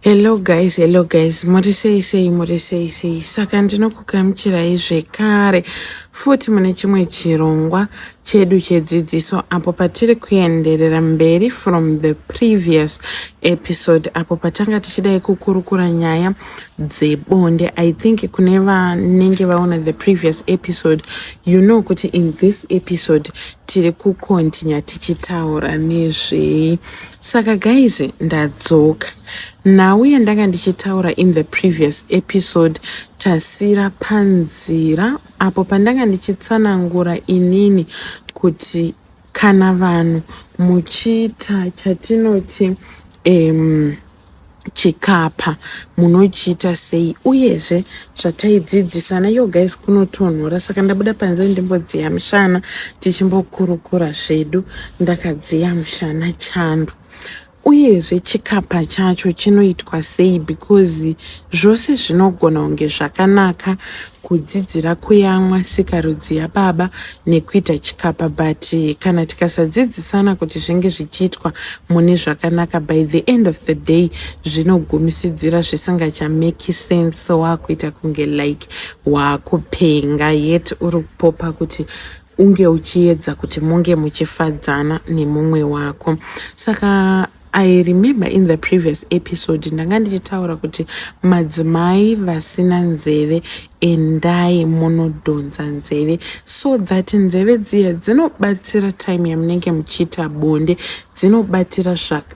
Hello guys, hello guys, muri sei sei, muri sei sei. Saka ndinokugamuchirai zvekare futi mune chimwe chirongwa chedu chedzidziso apo patiri kuenderera mberi from the previous episode apo patanga tichidai kukurukura nyaya dzebonde. I think kune vanenge vaona the previous episode, you know kuti in this episode tiri kukontinya tichitaura nezvei saka guys ndadzoka nhau yandanga ndichitaura in the previous episode tasira panzira apo pandanga ndichitsanangura inini kuti kana vanhu muchiita chatinoti um, chikapa munochiita sei uyezve zvataidzidzisana yo guys kunotonhora saka ndabuda panze ndimbodziya mushana tichimbokurukura zvedu ndakadziya mushana chando uyezve chikapa chacho chinoitwa sei because zvose zvinogona kunge zvakanaka kudzidzira kuyamwa sikarudzi yababa nekuita chikapa but kana tikasadzidzisana kuti zvinge zvichiitwa mune zvakanaka by the end of the day zvinogumisidzira zvisingachameki sense wakuita kunge like wakupenga yet uri kupopa kuti unge uchiedza kuti munge muchifadzana nemumwe wako saka i remember in the previous episode ndanga ndichitaura kuti madzimai vasina nzeve endai munodhonza nzeve so that nzeve dziya dzinobatsira time yamunenge muchiita bonde dzinobatira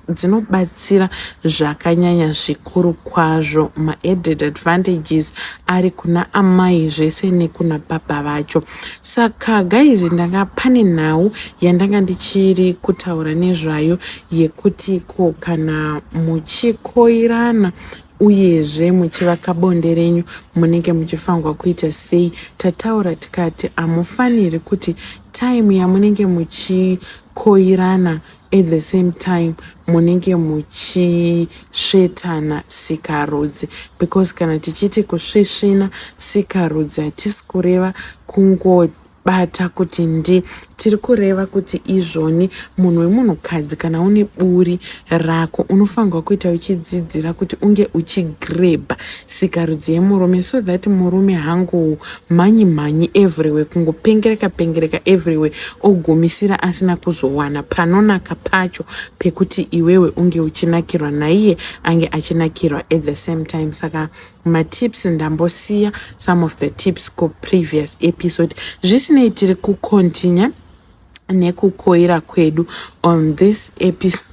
dzinobatsira zvakanyanya zvikuru kwazvo maadded advantages ari kuna amai zvese nekuna baba vacho saka guys ndanga pane nhau yandanga ndichiri kutaura nezvayo yekuti ko kana muchikoirana uyezve muchivaka bonde renyu munenge muchifanirwa kuita sei tataura tikati hamufaniri kuti time yamunenge muchi koirana at the same time munenge muchisvetana sikarudzi because kana tichiti kusvisvina sikarudzi hatisi kureva kungobata kuti ndi tiri kureva kuti izvoni munhu wemunhukadzi kana une buri rako unofanirwa kuita uchidzidzira kuti unge uchigrebha sikarudzi yemurume so that murume hangu mhanyi mhanyi everywhere kungopengereka pengereka everywhere ogumisira asina kuzowana panonaka pacho pekuti iwewe unge uchinakirwa naiye ange achinakirwa at the same time saka matips ndambosiya some of the tips kuprevious episode zvisinei tiri kucontinue nekukoira kwedu on this episode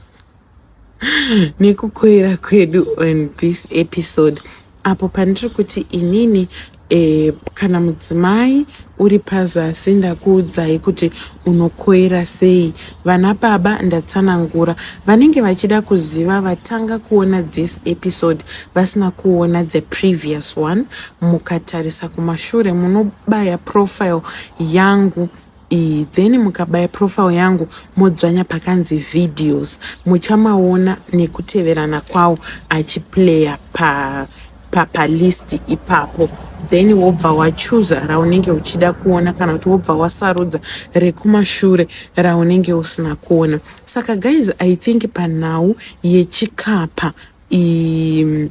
nekukoira kwedu on this episode apo pandiri kuti inini e, kana mudzimai uri pazasi ndakuudzai kuti unokoira sei vana baba ndatsanangura vanenge vachida kuziva vatanga kuona this episode vasina kuona the previous one mukatarisa kumashure munobaya profile yangu iyi then mukabaya profile yangu modzvanya pakanzi videos muchamaona nekuteverana kwawo achiplaya pa papalist ipapo then wobva wachuza raunenge uchida kuona kana kuti wobva wasarudza rekumashure raunenge usina kuona saka guys i think panhau yechikapa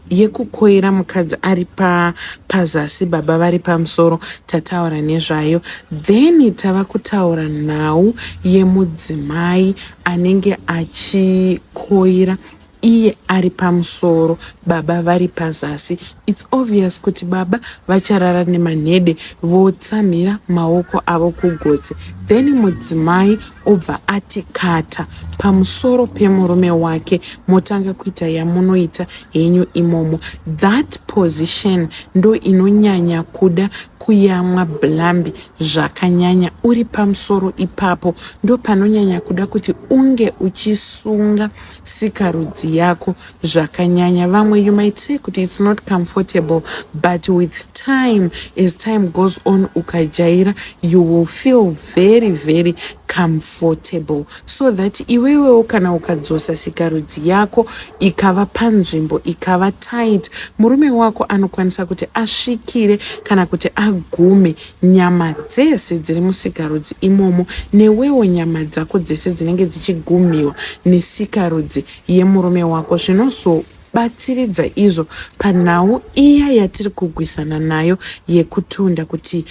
yekukoira mukadzi ari pa pazasi baba vari pamusoro tataura nezvayo then tava kutaura nhau yemudzimai anenge achikoira iye ari pamusoro baba vari pazasi its obvious kuti baba vacharara nemanhede votsamhira maoko avo kugotsi then mudzimai obva ati kata pamusoro pemurume wake motanga kuita yamunoita henyu imomo that position ndo inonyanya kuda kuyamwa blambi zvakanyanya uri pamusoro ipapo ndopanonyanya kuda kuti unge uchisunga sikarudzi yako zvakanyanya vamwe you might say kuti its not comfortable but with time as time goes on ukajaira you will feel very very comfortable so that iwewewo kana ukadzosa sikarudzi yako ikava panzvimbo ikava tight murume wako anokwanisa kuti asvikire kana kuti agume nyama dzese dziri musikarudzi imomo newewo nyama dzako dzese dzinenge dzichigumiwa nesikarudzi yemurume wako zvinozobatsiridza izvo panhau iya yatiri kugwisana nayo yekutunda kuti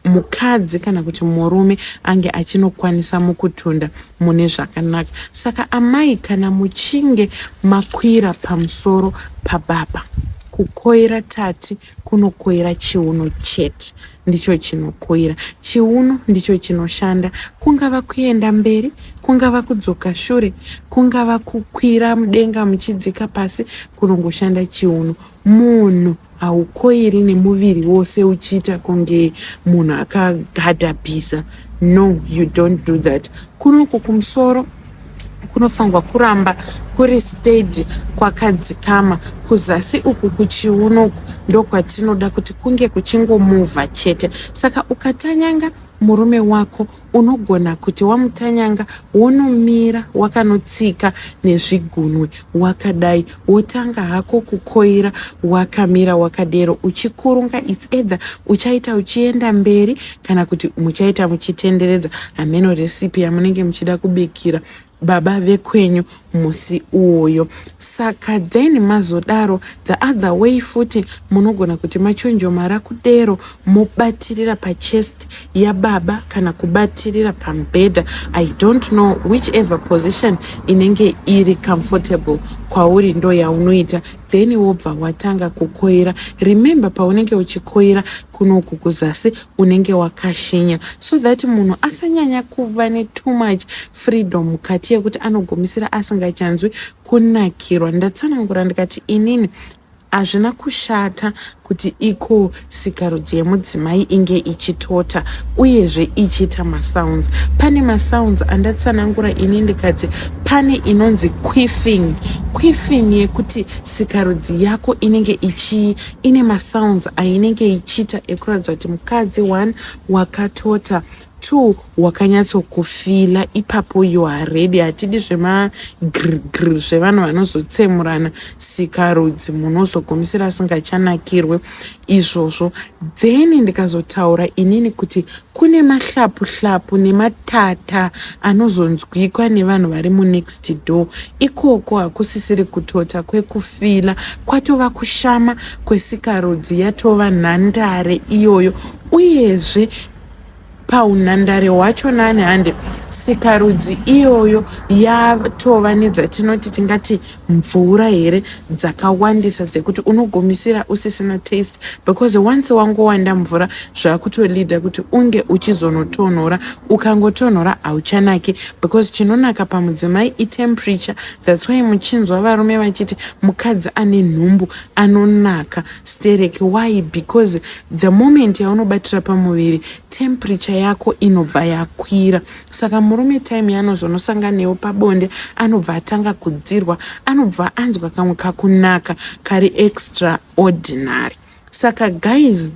mukadzi kana kuti murume ange achinokwanisa mukutunda mune zvakanaka saka amai kana muchinge makwira pamusoro pababa kukoira tati kunokoira chiuno chete ndicho chinokoira chiuno ndicho chinoshanda kungava kuenda mberi kungava kudzoka shure kungava kukwira mudenga muchidzika pasi kunongoshanda chiuno munhu haukoiri nemuviri wose uchiita kunge munhu akagadhabhisa no you don't do that kunoku kumusoro kunofanirwa kuramba kuri steady kwakadzikama kuzasi uku kuchiuno uku ndokwatinoda kuti kunge kuchingomovha chete saka ukatanyanga murume wako unogona kuti wamutanyanga wonomira wakanotsika nezvigunwe wakadai wotanga hako kukoira wakamira wakadero uchikurunga its either uchaita uchienda mberi kana kuti muchaita muchitenderedza hameno recipe yamunenge muchida kubikira baba vekwenyu musi uwoyo saka then mazodaro the other way futi munogona kuti machonjomara kudero mobatirira pachest yababa kana kubatirira pamubhedha i don't know which ever position inenge iri comfortable kwauri ndo yaunoita then wobva watanga kukoira remember paunenge uchikoira kunoku kuzasi unenge wakashinya so that munhu asanyanya kuva netoo much freedom mukati yekuti anogumisira asingachanzwi kunakirwa ndatsanangura ndikati inini Hazvina kushata kuti iko sikarudzi yemudzimai inge ichitota uyezve ichiita masounds. Pane masounds andatsanangura ini ndikati pane inonzi quiffing. Quiffing yekuti sikarudzi yako inenge ichii ine masounds ainenge ichiita ekuratidza kuti mukadzi one wakatota. Two wakanyatsokufila ipapo you are ready hatidi zvema grgr zvevanhu vanozotsemurana sikarudzi munhu ozogumisira asingachanakirwe izvozvo then ndikazotaura inini kuti kune mahlapu hlapu nematata anozonzwikwa nevanhu vari munext door ikoko hakusisiri kutota kwekufila kwatova kushama kwesikarudzi yatova nhandare iyoyo uyezve paunhandare hwacho nani hande sikarudzi iyoyo yatova nedzatinoti tingati mvura here dzakawandisa dzekuti unogumisira usisina taste because once wangowanda mvura zvakutolida kuti unge uchizonotonhora ukangotonhora hauchanaki because chinonaka pamudzimai itemperature that's why muchinzwa varume vachiti mukadzi ane nhumbu anonaka sterek why because the moment yaunobatira pamuviri temperature yako inobva yakwira saka murume time yaanozonosangana newo pabonde anobva atanga kudzirwa anobva anzwa kamwe kakunaka kari extra ordinary saka guys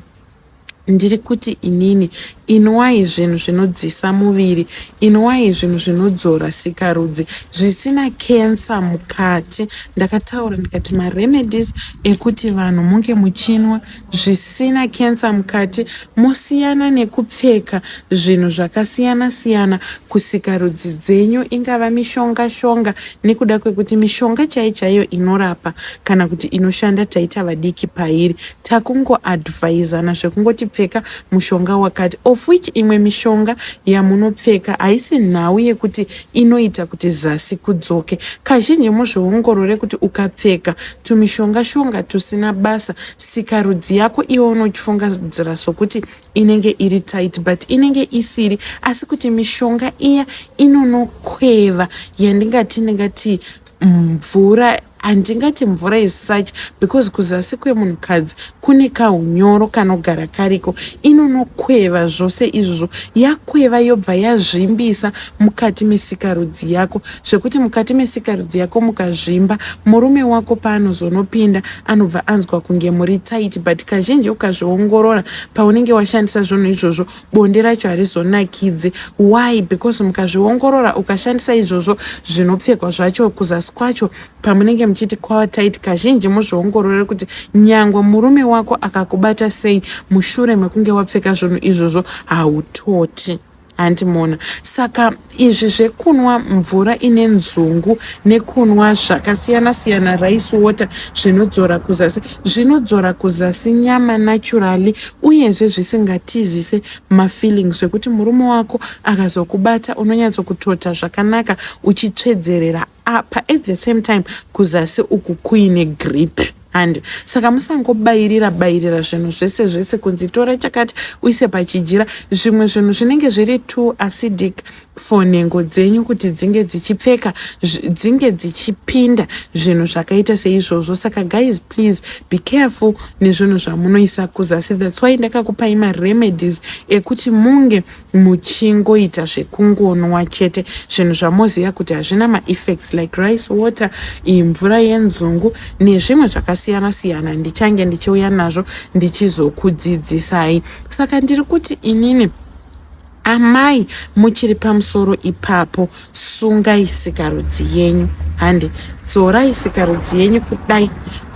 Ndiri kuti inini, inwai zvinhu zvinodzisa muviri, inwai zvinhu zvinodzora sikarudzi, zvisina cancer mukati. Ndakataura ndikati maremedies ekuti vanhu munge muchinwa zvisina cancer mukati, mosiyana nekupfeka zvinhu zvakasiyana siyana kusikarudzi dzenyu, ingava mishonga shonga, nekuda kwekuti mishonga chaiyo chaiyo inorapa kana kuti inoshanda taita vadiki pairi. takungo advisana zvekungoti pfeka mushonga wakati of which imwe mishonga yamunopfeka haisi nhau yekuti inoita kuti zasi kudzoke kazhinji muzviongorore kuti ukapfeka tumishonga shonga tusina basa sikarudzi yako iwe unochifungaira sokuti inenge iri tight but inenge isiri asi kuti mishonga iya inonokweva yandingati ndingati mvura handingati mvura yesuch because kuzasi kwemunhukadzi kune kaunyoro kanogara kariko inonokweva zvose izvozvo yakweva yobva yazvimbisa mukati mesikarudzi yako zvekuti mukati mesikarudzi yako mukazvimba murume wako paanozonopinda anobva anzwa kunge muri tight but kazhinji ukazviongorora paunenge washandisa zvinhu izvozvo bonde racho harizonakidze why because mukazviongorora ukashandisa izvozvo zvinopfekwa zvacho kuzasi kwacho pamunenge muchiti kwava tight kazhinji muzviongorore kuti nyangwe murume wako akakubata sei mushure mekunge wapfeka zvinhu izvozvo hautoti hanti mona saka Izvi zvekunwa mvura ine nzungu nekunwa zvakasiyana siyana rice water zvinodzora kuzasi zvinodzora kuzasi nyama naturally uyezve zvisingatizise mafeeling zvekuti murume wako akazokubata unonyatsokutota zvakanaka uchitsvedzerera apa at the same time kuzasi uku kuine grip handi saka musangobayirira bayirira zvinhu zvese zvese kunzi tora chakati uise pachijira zvimwe zvinhu zvinenge zviri too acidic for nhengo dzenyu kuti dzinge dzichipfeka dzinge dzichipinda zvinhu zvakaita seizvozvo saka guys please be careful nezvinhu zvamunoisa kuzasi that's why ndakakupai maremedies ekuti munge muchingoita zvekungonwa chete zvinhu zvamoziva kuti hazvina maeffects like rice water iyi mvura yenzungu nezvimwe zvakasiyana siyana ndichange ndichiuya nazvo ndichizokudzidzisai saka ndiri kuti inini amai muchiri pamusoro ipapo Sungai sikarudzi yenyu hande dzorai sikarudzi yenyu kudai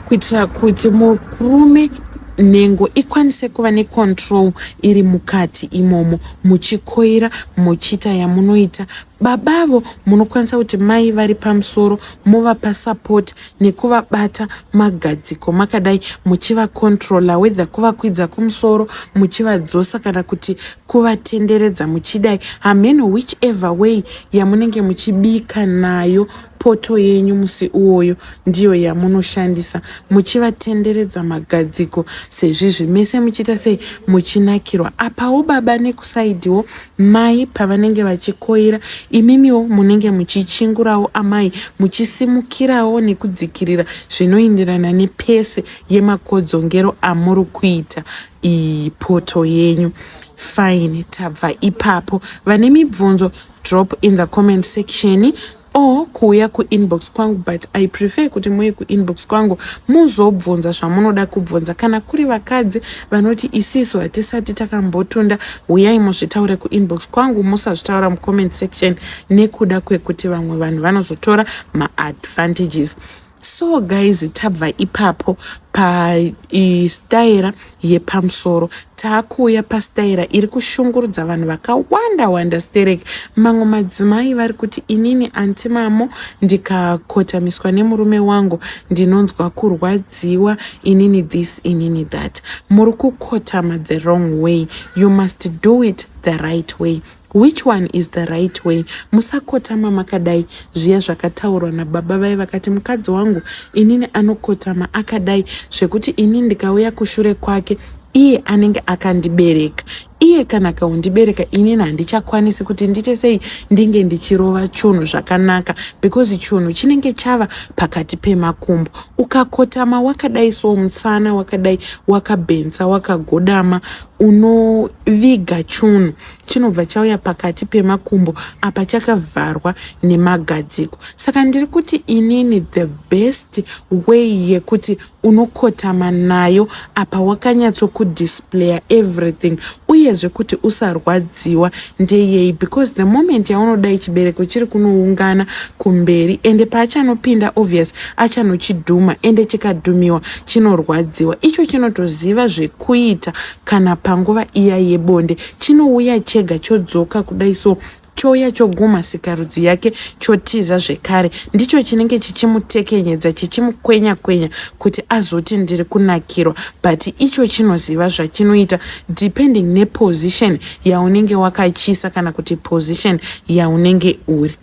kuitira kuti murume nhengo ikwanise kuva necontrol iri mukati imomo muchikoira muchiita yamunoita baba avo munokwanisa kuti mai vari pamusoro movapa support nekuvabata magadziko makadai muchivacontrola wether kuvakwidza kumusoro muchivadzosa kana kuti kuvatenderedza muchidai hameno which ever way yamunenge muchibika nayo poto yenyu musi uwoyo ndiyo yamunoshandisa muchivatenderedza magadziko sezvizvi mese muchiita sei muchinakirwa apawo baba nekusaidiwo mai pavanenge vachikoira imimiwo munenge muchichingurawo amai muchisimukirawo nekudzikirira zvinoindirana nepese yemakodzongero amuri kuita ipoto yenyu fine tabva ipapo vane mibvunzo drop in the comment section or kuuya kuinbox kwangu but i prefer kuti muye kuinbox kwangu muzobvunza zvamunoda kubvunza kana kuri vakadzi vanoti isisu hatisati takambotunda huyai muzvitaure kuinbox kwangu musazvitaura mucomment section nekuda kwekuti vamwe vanhu vanozotora maadvantages so guys tabva ipapo pastaira yepamusoro taakuuya pastaira iri kushungurudza vanhu vakawanda wanda sterek mamwe madzimai vari kuti inini anti mamo ndikakotamiswa nemurume wangu ndinonzwa kurwadziwa inini this inini that muri kukotama the wrong way you must do it the right way Which one is the right way? Musakotama makadai zviya zvakataurwa nababa vaye vakati mukadzi wangu inini anokotama akadai zvekuti ini ndikauya kushure kwake iye anenge akandibereka iye kana akaundibereka inini handichakwanisi kuti ndite sei ndinge ndichirova chunhu zvakanaka because chunhu chinenge chava pakati pemakumbo ukakotama wakadai so musana wakadai wakabhensa wakagodama unoviga chunhu chinobva chauya pakati pemakumbo apa chakavharwa nemagadziko saka ndiri kuti inini the best way yekuti unokotama nayo apa wakanyatsokudisplaya everything uyezve kuti usarwadziwa ndeyei because the moment yaunodai chibereko chiri kunoungana kumberi ende paachanopinda obvious achanochidhuma ende chikadhumiwa chinorwadziwa icho chinotoziva zvekuita kana panguva iya yebonde chinouya chega chodzoka kudai so chouya chogumha sikarudzi yake chotiza zvekare ndicho chinenge chichimutekenyedza chichimukwenya kwenya kuti azoti ndiri kunakirwa but icho chinoziva zvachinoita depending neposition yaunenge wakachiisa kana kuti position yaunenge uri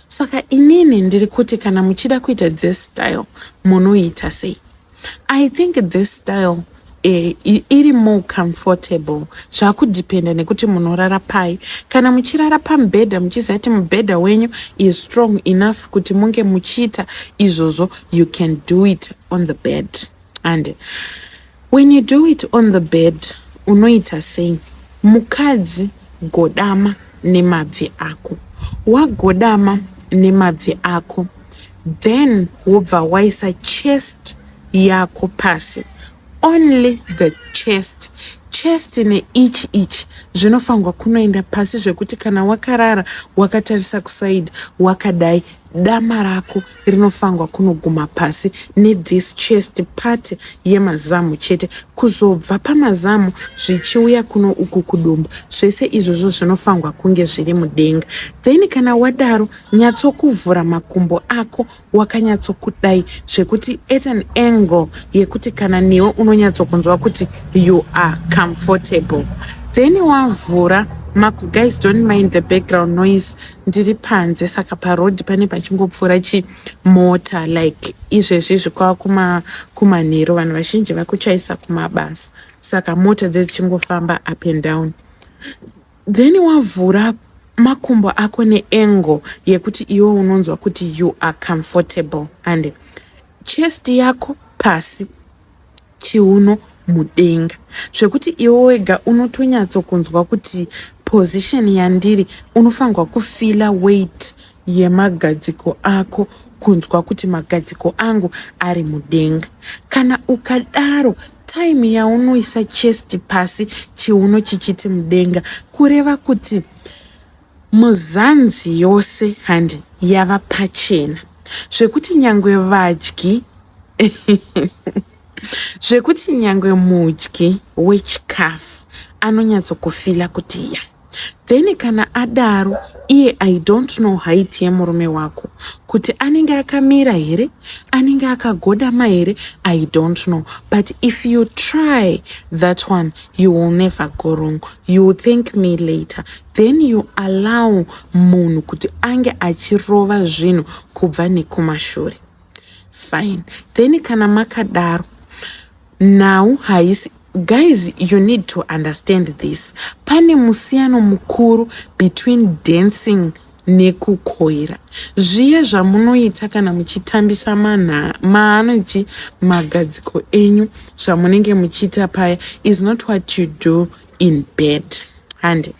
saka inini ndiri kuti kana muchida kuita this style munoita sei i think this style eh, iri more comfortable zvakudependa nekuti munorara pai kana muchirara pamubhedha muchiziva kuti mubhedha wenyu is strong enough kuti munge muchiita izvozvo you can do it on the bed and When you do it on the bed unoita sei mukadzi godama nemabvi ako wagodama nemabvi ako then wobva waisa chest yako pasi only the chest chest neichi ichi zvinofanirwa kunoenda pasi zvekuti kana wakarara wakatarisa kuside wakadai Dama rako rinofangwa kunoguma pasi ne this chest part yemazamu chete kuzobva pamazamu zvichiuya kuno uku kudumbu zvese izvozvo zvinofangwa kunge zviri mudenga then kana wadaro nyatsokuvhura makumbo ako wakanyatsokudai zvekuti at an angle yekuti kana newe unonyatsokunzwa kuti you are comfortable then wavhura maku guys don't mind the background noise ndiri panze saka paroad pane pachingopfuura chimota like izvezvi izvi kwava kuma kumanhero vanhu vazhinji vakuchaisa kumabasa saka mota dzedzichingofamba up and down then wavhura makumbo ako neengo yekuti iwe unonzwa kuti you are comfortable and chest yako pasi chiuno mudenga zvekuti iwe wega unotonyatsokunzwa kuti position yandiri unofanirwa kufila weight yemagadziko ako kunzwa kuti magadziko angu ari mudenga kana ukadaro time yaunoisa chest pasi chiuno chichiti mudenga kureva kuti Muzanzi yose handi yava pachena zvekuti nyangwe vadyi zvekuti nyangwe mudyi wechikafu anonyatsokufila kuti ya then kana adaro iye i don't know height yemurume wako kuti anenge akamira here anenge akagodama here i don't know but if you try that one you will never go wrong you will thank me later then you allow munhu kuti ange achirova zvinhu kubva nekumashure fine then kana makadaro nhau haisi guys you need to understand this pane musiyano mukuru between dancing nekukoira zviye zvamunoita kana muchitambisa manha maanochi magadziko enyu zvamunenge muchiita paya is not what you do in bed hande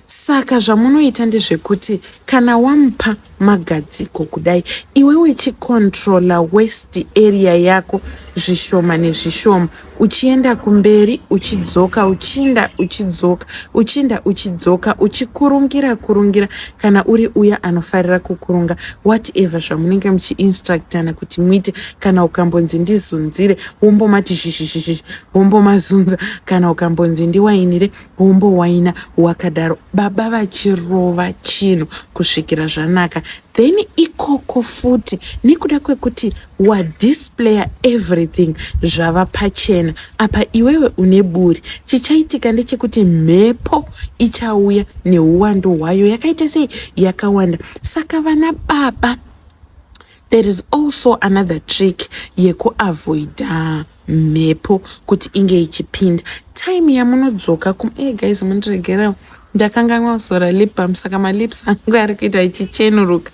saka zvamunoita ndezvekuti kana wamupa magadziko kudai iwe wechicontrola west area yako zvishoma nezvishoma uchienda kumberi uchidzoka uchinda uchidzoka uchinda uchidzoka uchikurungira kurungira kana uri uya anofarira kukurunga whatever zvamunenge muchiinstructana kuti muite kana ukambonzi ndizunzire wombomati zhizhizhizhi wombomazunza kana ukambonzi ndiwainire wombowaina wakadaro baba vachirova chinhu kusvikira zvanaka then ikoko futi nekuda kwekuti wa displayer everything zvava pachena apa iwewe une buri chichaitika ndechekuti mhepo ichauya neuwando hwayo yakaita sei yakawanda saka vana baba there is also another trick yekuavoida mhepo kuti inge ichipinda time yamunodzoka kum e eh, guys mundiregerao ndakanganwa kuzora lip bam saka malips angu ari kuita ichichenuruka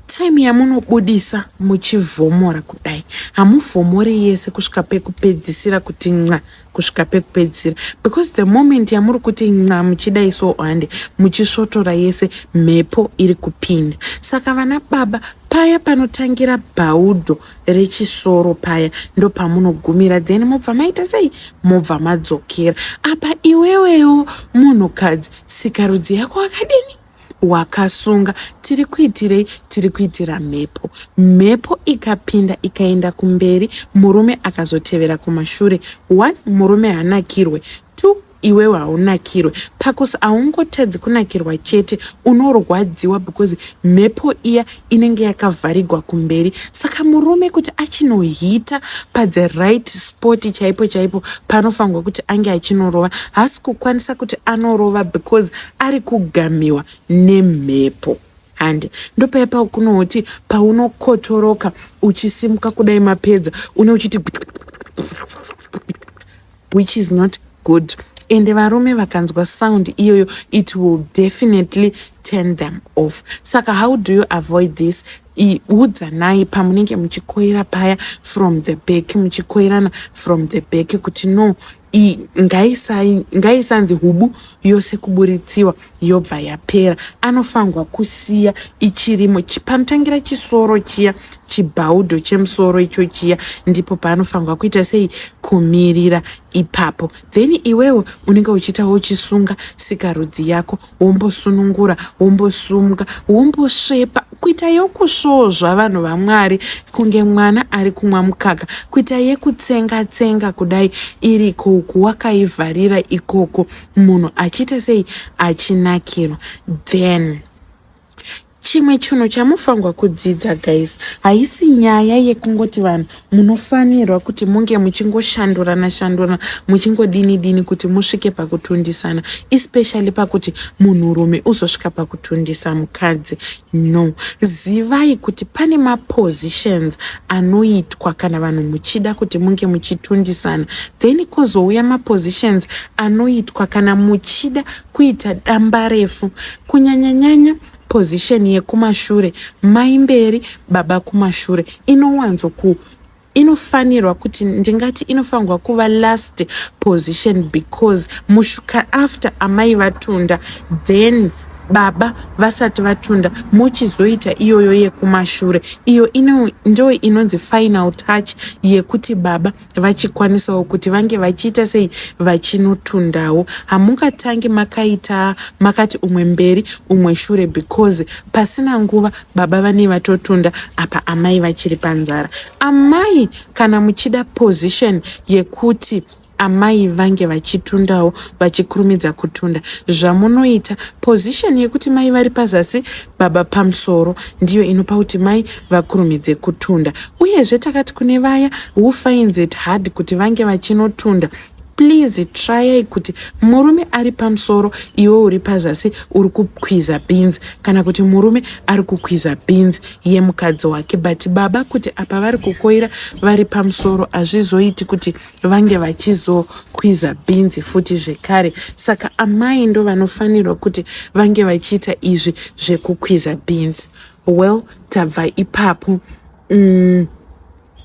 time yamunobudisa muchivhomora kudai hamuvhomore yese kusvika pekupedzisira kuti nca kusvika pekupedzisira because the moment yamuri kuti nca muchidai so hande muchisvotora yese mhepo iri kupinda saka vana baba paya panotangira bhaudho rechisoro paya ndopamunogumira then mobva maita sei mobva madzokera apa iwewewo munhukadzi sikarudzi yako akadini wakasunga tiri kuitirei tiri kuitira mhepo mhepo ikapinda ikaenda kumberi murume akazotevera kumashure one murume hanakirwe two iwewe haunakirwe pacause haungotadzi kunakirwa chete unorwadziwa because mhepo iya inenge yakavharigwa kumberi saka murume kuti achinohita pathe right spot chaipo chaipo panofanirwa kuti ange achinorova haasi kukwanisa kuti anorova because ari kugamiwa nemhepo hande ndopaya pakunooti paunokotoroka uchisimuka kudai mapedza une uchiti which is not good ende varume vakanzwa sound iyoyo it will definitely turn them off saka how do you avoid this udzanai pamunenge muchikoira paya from the back muchikoirana from the back kuti no ngaisanzi hubu yose kuburitsiwa yobva yapera anofanirwa kusiya ichirimo panotangira chisoro chiya chibhaudo chemusoro icho chiya ndipo paanofanirwa kuita sei kumirira ipapo then iwewe unenge uchiita wochisunga sikarudzi yako wombosunungura wombosumga wombosvepa kuita yokusvozva vanhu vamwari kunge mwana ari kumwa mukaka kuita yekutsenga tsenga kudai iriko uku wakaivharira ikoko munhu achiita sei achinakirwa then chimwe chinhu chamufangwa kudzidza guys haisi nyaya yekungoti vanhu munofanirwa kuti munge muchingoshandurana shandurana muchingodini dini kuti musvike pakutundisana especially pakuti munhurume uzosvika pakutundisa mukadzi no zivai kuti pane mapositions anoitwa kana vanhu muchida kuti munge muchitundisana then kozouya mapositions anoitwa kana muchida kuita dambarefu kunyanyanyanya position yekumashure mai mberi baba kumashure inowanzo ku inofanirwa kuti ndingati inofanirwa kuva last position because mushuka after amai vatunda then baba vasati vatunda mochizoita iyoyo yekumashure iyo ino ndo inonzi final touch yekuti baba vachikwanisawo kuti vange vachiita sei vachinotundawo hamungatangi makaita makati umwe mberi umwe shure because pasina nguva baba vanei vatotunda apa amai vachiri panzara amai kana muchida position yekuti amai vange vachitundawo vachikurumidza kutunda zvamunoita position yekuti mai vari pazasi baba pamusoro ndiyo inopa kuti mai vakurumidze kutunda uyezve takati kune vaya who finds it hard kuti vange vachinotunda please trayai kuti murume ari pamusoro iwe uri pazasi uri kukwiza beans kana kuti murume ari kukwiza beans yemukadzi wake but baba kuti apa vari kukoira vari pamusoro hazvizoiti kuti vange vachizokwiza bhinzi futi zvekare saka amai ndo vanofanirwa kuti vange vachiita izvi zvekukwiza bhinzi well tabva ipapo mm.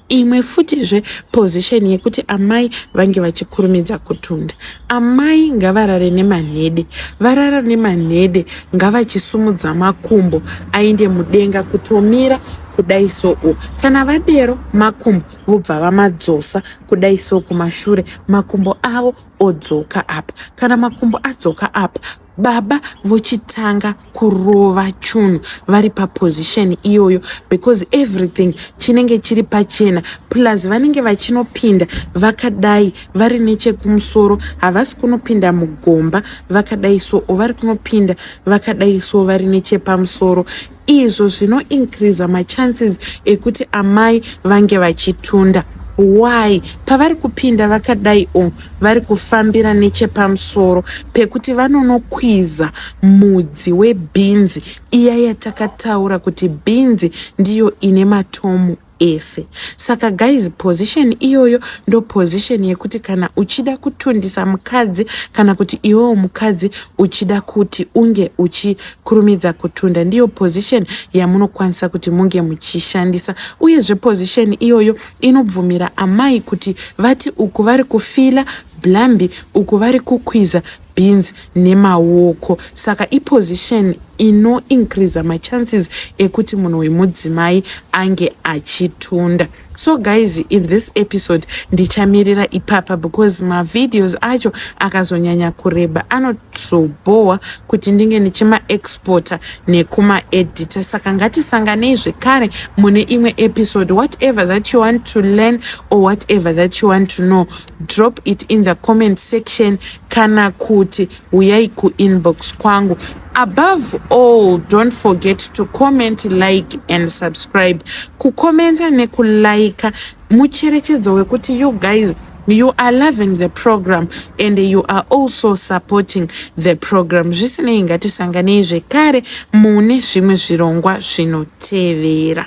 imwe futizve position yekuti amai vange vachikurumidza kutunda amai ngavarare nemanhede varara nemanhede ngavachisumudza makumbo ainde mudenga kutomira kudai soo kana vadero makumbo vobva vamadzosa kudai so kumashure makumbo avo odzoka apa kana makumbo adzoka apa baba vochitanga kurova chunhu vari paposition iyoyo because everything chinenge chiri pachena plus vanenge vachinopinda vakadai vari nechekumusoro havasi kunopinda mugomba vakadai so ovari kunopinda vakadai so vari nechepamusoro izvo zvino increaser machances ekuti amai vange vachitunda why pavari kupinda vakadai o vari kufambira nechepamusoro pekuti vanonokwiza mudzi webhinzi iya yatakataura kuti bhinzi ndiyo ine matomu ese saka guys position iyoyo ndo position yekuti kana uchida kutundisa mukadzi kana kuti iwewo mukadzi uchida kuti unge uchikurumidza kutunda ndiyo position yamunokwanisa kuti munge muchishandisa uyezve position iyoyo inobvumira amai kuti vati uku vari kufila blambi uku vari kukwiza beans nemaoko saka iposition ino increaser machances ekuti munhu wemudzimai ange achitunda so guys in this episode ndichamirira ipapa because mavideos acho akazonyanya kureba anozobhowa kuti ndinge ndichimaexporta nekumaedita saka ngatisanganei zvekare mune imwe episode whatever that you want to learn or whatever that you want to know drop it in the comment section kana kuti huyai kuinbox kwangu above all don't forget to comment like and subscribe kukomenta nekulaika mucherechedzo wekuti you guys you are loving the program and you are also supporting the program zvisinei ngatisanganei zvekare mune zvimwe zvirongwa zvinotevera